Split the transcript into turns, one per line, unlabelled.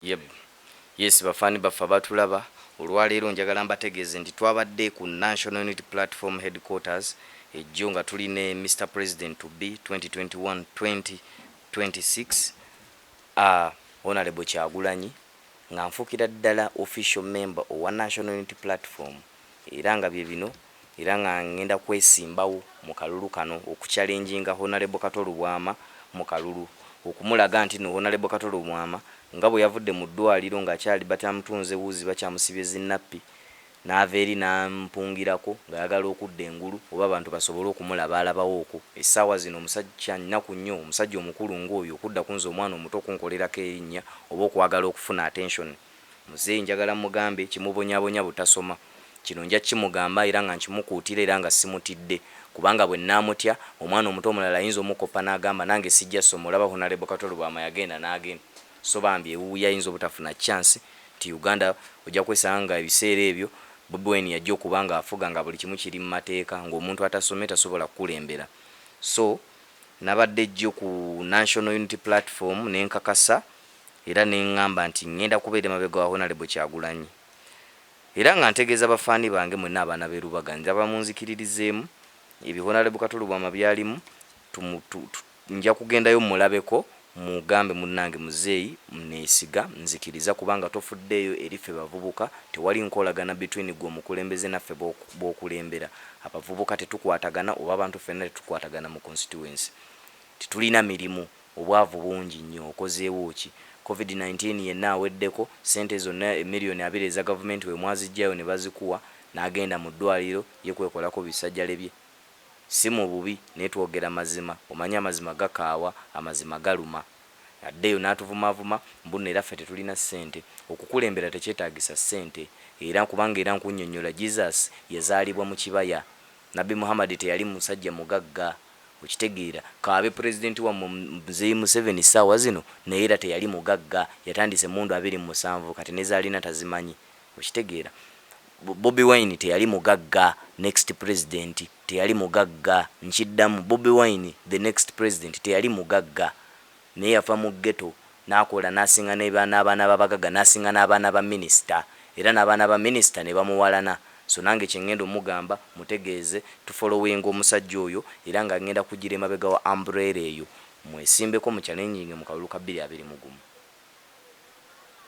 Yeb. Yes bafan baffe abatulaba, olwaleero njagala mbategeeze nti twabadde ku National Unity Platform Headquarters e Ggyo nga tuli ne Mister President to be 2021-2026 aa Honourable Kyagulanyi nga nfuukira ddala official member owa National Unity Platform. era nga bye bino era nga ngenda kwesimbawo mu kalulu kano oku challenginga Honalebo Kato Lubwama mu kalulu okumulaga nti no Honalebo Kato Lubwama nga bwe yavudde mu ddwaliro nga akyali batamutunze wuzi bakyamusibye zi nappi naava eri nampungirako ngayagala okudda engulu oba abantu basobole okumulabaalabawoko essaawa zino omusajja kya nnaku nnyo omusajja omukulu nga oyo okudda kunze omwana omuto okunkolerako erinnya oba okwagala okufuna attention Muzeeyi njagala mmugambe kimubonyabonya butasoma. Kino nja kukimugamba era nga nkimukuutira era nga simutidde kubanga bwe nnaamutya, omwana omuto omulala ayinza omukoppa n'agamba nange sijja soma olaba Honalebo Kato Lubwama yagenda n'agenda so bambi ewuwuyo ayinza obutafuna chance nti Uganda ojja kwesanga nga ebiseera ebyo Bobi Wine yajja okuba nga afuga nga buli kimu kiri mu mateeka ng'omuntu atasomye tasobola kukulembera so nabadde jjo ku National Unity Platform ne nkakasa era nengamba nti ngenda kubeera emabega wa Honalebo Kyagulanyi era nga ntegeeza ba fan bange mwena abaana be Lubaga njaba munzikiririzeemu ebyo Honalebo Kato Lubwama byalimu nja kugendayo mulabeko mugambe munange muzeeyi nesiga nzikiriza kubanga tofuddeeyo eri ffe bavubuka tewali nkolagana between gwe omukulembeze naffe bokulembera abavubuka tetukwatagana oba abantu ffena tetukwatagana mu constituency tetulina mirimu Obwavu bungi nnyo. Okozeewo ki? Covid nineteen yenna aweddeko, ssente zonna million abiri eza gavumenti we mwaziggyayo ne bazikuwa n'agenda mu ddwaaliro ye kwekolako bisajjale bye? Ssi mu bubi naye twogera mazima. Omanyi amazima gakaawa, amazima galuma. Addeyo n'atuvumaavuma mbunno era ffe tetulina ssente. Okukulembera tekyetaagisa ssente. Era, kubanga era nkunnyonnyola, Jesus yazaalibwa mu kibaya. Nabbi Muhammad teyali musajja mugagga. Okitegeera, k'abe Pulezidenti wammwe Mzeei Museveni ssaawa zino, naye era teyali mugagga. Yatandise emmundu abiri mu musanvu, kati ne z'alina tazimanyi. Okitegeera? Bobi Wine teyali mugagga, next Pulezidenti, teyali mugagga. Nkiddamu, Bobi Wine, the next President, teyali mugagga. Naye yava mu ghetto nakola nasinga ne ba nabaana ba bagaga nasinga nabaana ba minister era nabaana ba minister nebamuwalana so nange kyengenda omugamba mutegeeze tu following omusajja oyo era nga ngenda kujira emabega wa umbrella eyo mwesimbeko mu challenginge mu kalulu ka bbiri abiri mu gumu.